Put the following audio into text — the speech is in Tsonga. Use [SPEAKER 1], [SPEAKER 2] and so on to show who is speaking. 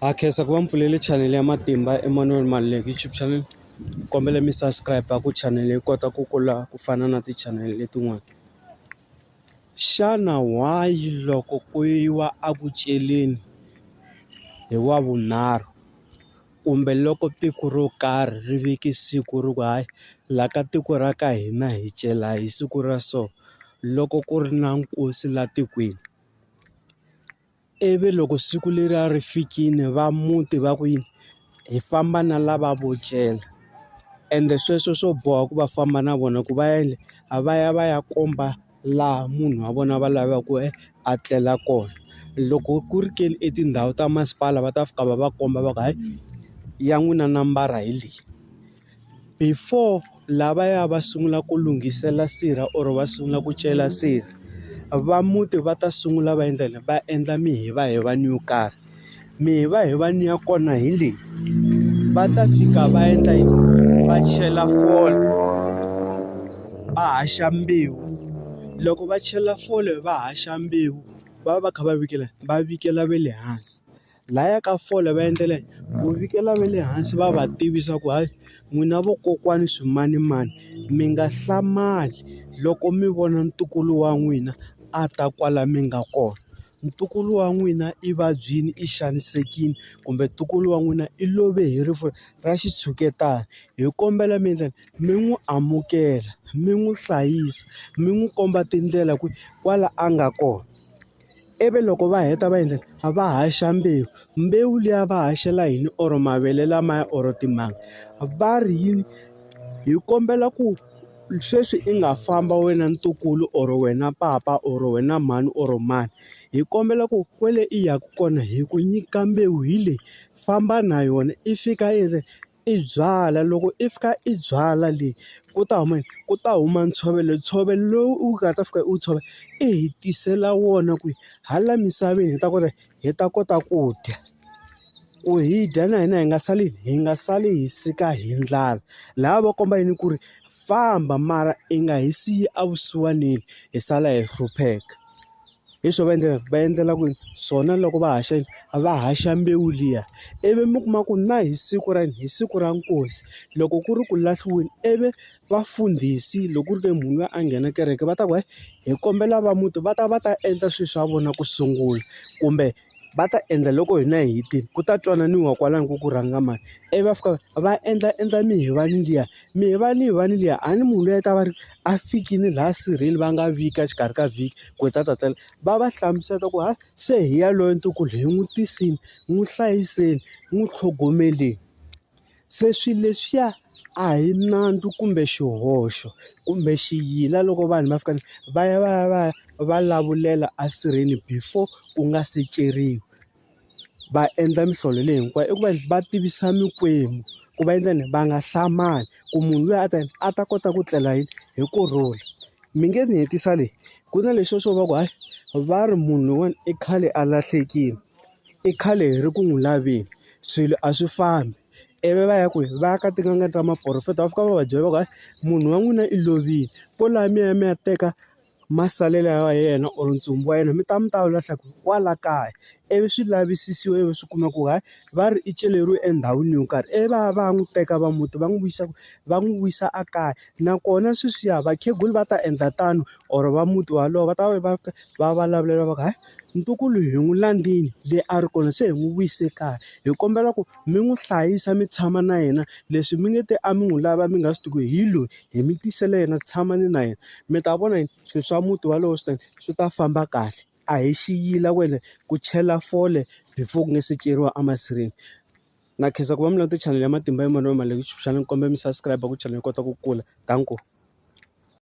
[SPEAKER 1] Ha khensa ku va mi pfulele chanele ya Matimba Emmanuel Maluleke YouTube channel. Kombela mi subscribe ku chanele yi kota ku kula ku fana na tichanele letin'wana. Xana why loko ku yiwa a ku celeni hi wa vunharhu kumbe loko tiko ro karhi ri veke siku ri ku hayi la ka tiko ra ka hina hi cela hi siku ra so loko ku ri na nkosi la tikweni. Ivi loko siku leriya ri fikile va muti va ku yini? Hi famba na lava vo cela. Ende sweswo swo boha ku va famba na vona ku va yini? A va ya va ya komba laha munhu wa vona va lavaka ku a tlela kona. Loko ku ri ke ni i tindhawu ta masipala va ta fika va va komba va ku hayi, ya n'wina nambara hi leyi. Before lavaya va sungula ku lunghisela sirha or va sungula ku cela sirha, va muti va ta sungula va endla yini? Va endla mihivaloni yo karhi. Mihivaloni ya kona hi leyi, va ta fika va endla yini? Va chela fole, va haxa mbewu. Loko va chela fole va haxa mbewu, va va va kha va va va vikela va le hansi. Laya ka fole va endlela yini? Ku vikela va le hansi va va tivisa ku hayi n'wina vokokwani swimanimani mi nga hlamali loko mi vona ntukulu wa n'wina a ta kwala mi nga kona. Ntukulu wa n'wina i vabyile, i xanisekile kumbe ntukulu wa n'wina i love hi rifu ra xitshuketana. Hi kombela mi endleni? Mi n'wi amukela, mi n'wi hlayisa, mi n'wi komba tindlela ku kwala a nga kona. ivi loko va heta va endla yini va haxa mbewu mbewu liya va haxela yini or mavele lamaya or timanga va ri yini hi kombela ku sweswi i nga famba wena ntukulu or wena papa or wena mhani or mani hi kombela ku kwale i yaka kona hi ku nyika mbewu hi le famba na yona i fika i ze. I byalwa loko i fika i byalwa leyi ku ta huma yini? Ku ta huma ntshovelo. Ntshovelo lowu u nga ta fika u wu tshovela i hi tisela wona ku hala misaveni hi ta kota hi ta kota ku dya. Ku hi dya na hina hi nga sali hi nga sali hi sika hi ndlala. Lahaya va komba yini ku ri famba mara i nga hi siyi evusiwanini hi sala hi hlupheka. Hi swo va endlela va endlela ku swona loko va haxa va haxa mbewu liya ivi mi kuma ku na hi siku ra yini hi siku ra nkosi loko ku ri ku lahliweni ivi vafundhisi loko ku ri ke munhu loyi a nghena kereke va ta ku hi kombela va muti va ta va ta endla swilo swa vona ku sungula kumbe va ta endla loko hina hi hetile ku ta twananiwa kwalano ku ku rhanga mani. Ivi va fika va endla endla mihovani liya mihovani yin'wana liya a ni munhu loyi a ta va ri a fikile laha sirheni va nga vika exikarhi ka vhiki ku ta ta tela va va hlamusela ku hayi se hi yaloye ntukulu hi n'wi tisile n'wi hlayiseni n'wi tlhogomeleni se swilo leswiya a hi nandzu kumbe xihoxo kumbe xiyila loko vanhu va fika va ya va ya va ya va lavulela esirheni before ku nga se ceriwa. va endla mihlolo leyi hinkwayo i ku va va tivisa mikwembu ku va endla yini va nga hlamali ku munhu luya a ta yini a ta kota ku tlela yini hi kurhula mi nge ni hetisa leyi ku na leswo swo va ku hayi va ri munhu loyiwani i khale a lahlekile i khale hi ri ku n'wi laveni swilo a swi fambi ivi va ya kwihi va ya ka tin'anga ta maporofeta va fika va va byela va ku hayi munhu wa n'wina i lovile kwalaya mi ya mi ya teka. masalela ya yena or ntsumbu wa yena mi ta mi ta wu lahla kwala kaya ivi swi lavisisiwa ivi swi kuma ku hayi va ri i celeriwe endhawini yo karhi ivi va ya va ya n'wi teka va muti va n'wi vuyisa va n'wi vuyisa a kaya nakona sweswiya vakhegula va ta endla tano or va muti wolowo va ta va va va vulavula va ku hayi ntukulu hi n'wi landzile le a ri kona se hi n'wi vuyise kaya hi kombela ku. mi n'wi hlayisa mi tshama na yena leswi mi nge te a mi n'wi lava mi nga swi tivi ku hi loyi hi mi tisele yena tshamani na yena mi ta vona yini swilo swa muti wolowo swi ta swi ta famba kahle a hi xi yila ku ende ku chela fole before ku nga se ceriwa a masirheni na khensa ku va mi languta chanel ya matimba ya mavonelo ma le xana ni kombela mi subscribe ku chela yi kota ku kula danko.